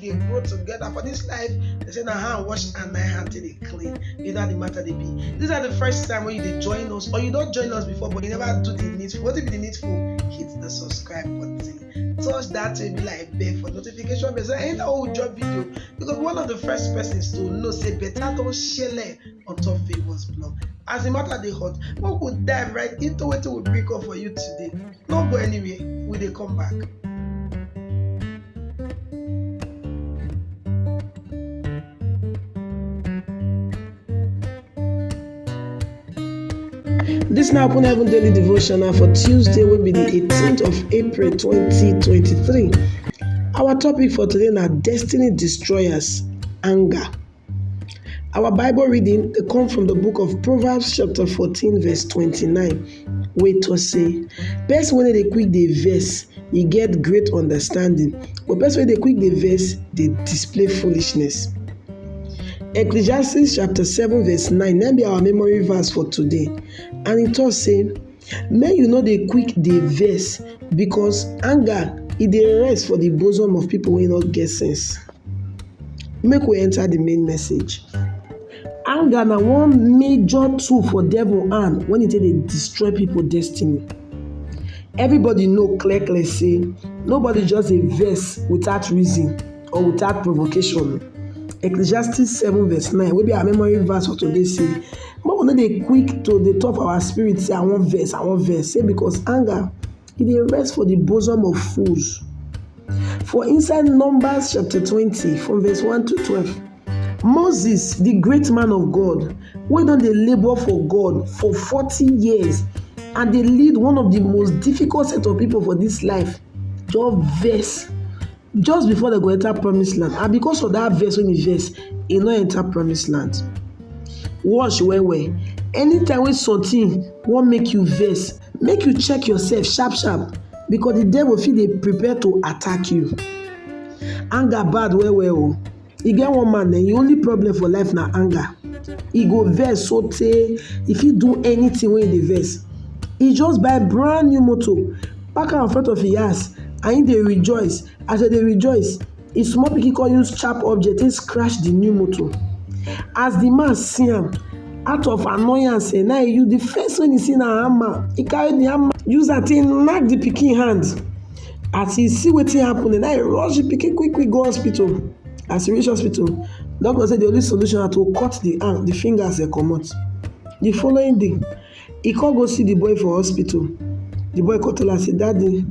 dey grow together for this life they say na hand wash and na hand take dey clean you know how the matter dey be this na the first time wey you dey join us or you don join us before but you never do the needful wetin be the needful hit the subscribe button touch that baby like bell for notification bell so anytime wey we drop video you go be one of the first persons to know say better don shele on top favours blog as the matter dey hot make we dive right into wetin we bring come for you today no go anywhere we dey come back. This na Open Heaven Daily Devotional for Tuesday wey be the 18th of April 2023. Our topic for today na destiny destroyers anger. Our Bible reading dey come from the book of Proverbs chapter 14 verse 29 wey talk say person wey no dey quick dey vex e get great understanding but person wey dey quick dey vex dey display foolishness. Ecclesiastes chapter 7 verse 9 na be our memory verse for today and e talk say Make you no dey quick dey vex because anger e dey rest for de bosom of pipu wey no get sense. Make we enter de main message. Anger na one major tool for devil hand wen e take dey destroy pipu destiny. Everybody know clear clear sey nobody just dey vex without reason. or without provocation. Ecclesiastes 7 verse 9 wey be our memory verse for today say make we no dey quick to dey talk for our spirit say I wan vex, I wan vex say because anger e dey rest for the bosom of fools. For inside Numbers chapter 20 from verse 1 to 12, Moses the great man of God wey don dey labour for God for 40 years and dey lead one of the most difficult set of people for this life just vex just before dem go enter promise land and because of that verse wey he verse he no enter promise land watch well well anytime wey something wan make you verse, make you check yourself sharp sharp because the devil fit dey prepare to attack you anger bad well well o. Oh. E get one man eh, im only problem for life na anger. E go vex so tey e fit do anything wey e dey vex. E just buy brand new motor, park am in front of im house and im dey rejoice. As e dey rejoice, im small pikin come use sharp object take scratch the new motor. As the man see am, out of annoyance eh, na im e use the first thing wey e see na hammer. E carry the hammer use am take knack the pikin hand. as e see wetin happen na im e rush the pikin quick quick go hospital as e reach hospital doctor say the only solution na to cut the hand the fingers dem comot the following day e come go see the boy for hospital the boy come tell am say daddy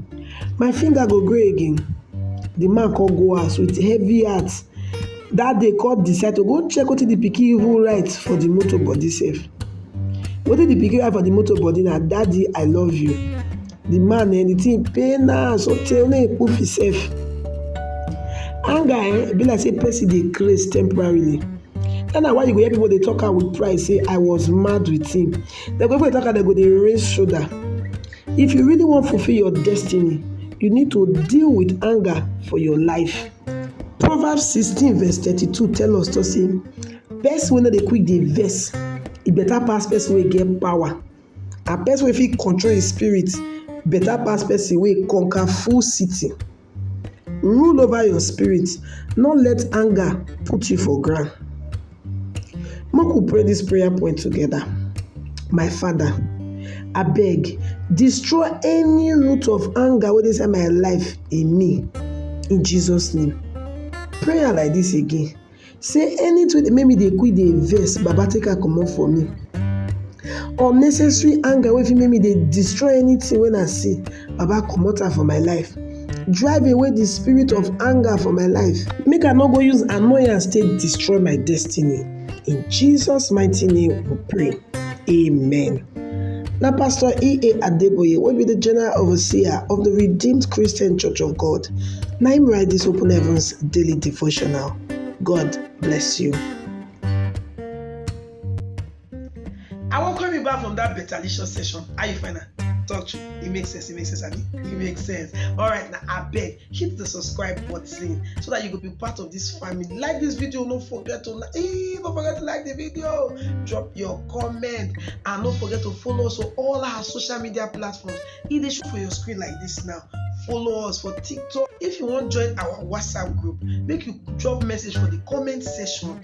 my finger go grow again the man come go house with heavy heart that day come decide to go check wetin the pikin even write for the motor body sef wetin the pikin write for the motor body na daddy I love you the man eh the thing pain am sotey make he poof himself anger eh be like say person dey craze temporarily that na why you go hear people dey talk am with pride say i was mad with him dem go even dey talk am dem go dey raise shoulder if you really wan fulfil your destiny you need to deal with anger for your life proverbs sixteen verse thirty-two tell us to say person wey no dey quick dey vex e better pass person wey get power and person wey fit control him spirit better pass person wey conquer full city. Rule over your spirit no let anger put you for ground. Make we pray this prayer point together, my father abeg destroy any root of anger wey dey inside my life in me in Jesus name. Pray am like this again. sey anytin wey dey make me dey quick dey vex baba take am comot for me, unnecessary anger wey fit make me dey destroy anytin wey I see baba comot am for my life, drive away di spirit of anger for my life make I no go use annoyance take destroy my destiny in Jesus mighty name we pray. Amen. Na Pastor E.A. Adeboye wey be the General Overseer of the Redeemed Christian Church of God na im write this Open Heavens Daily Devotional. God bless you. I wan call me back from that betalicious session. How you find am? Talk true. It makes sense. It makes sense, abi? It makes sense. All right, now I beg. hit the subscribe button so that you could be part of this family like this video don't forget to like eh, don't forget to like the video drop your comment and don't forget to follow us on all our social media platforms e dey show for your screen like this now follow us for tiktok if you wan join our whatsapp group make you drop message for the comment section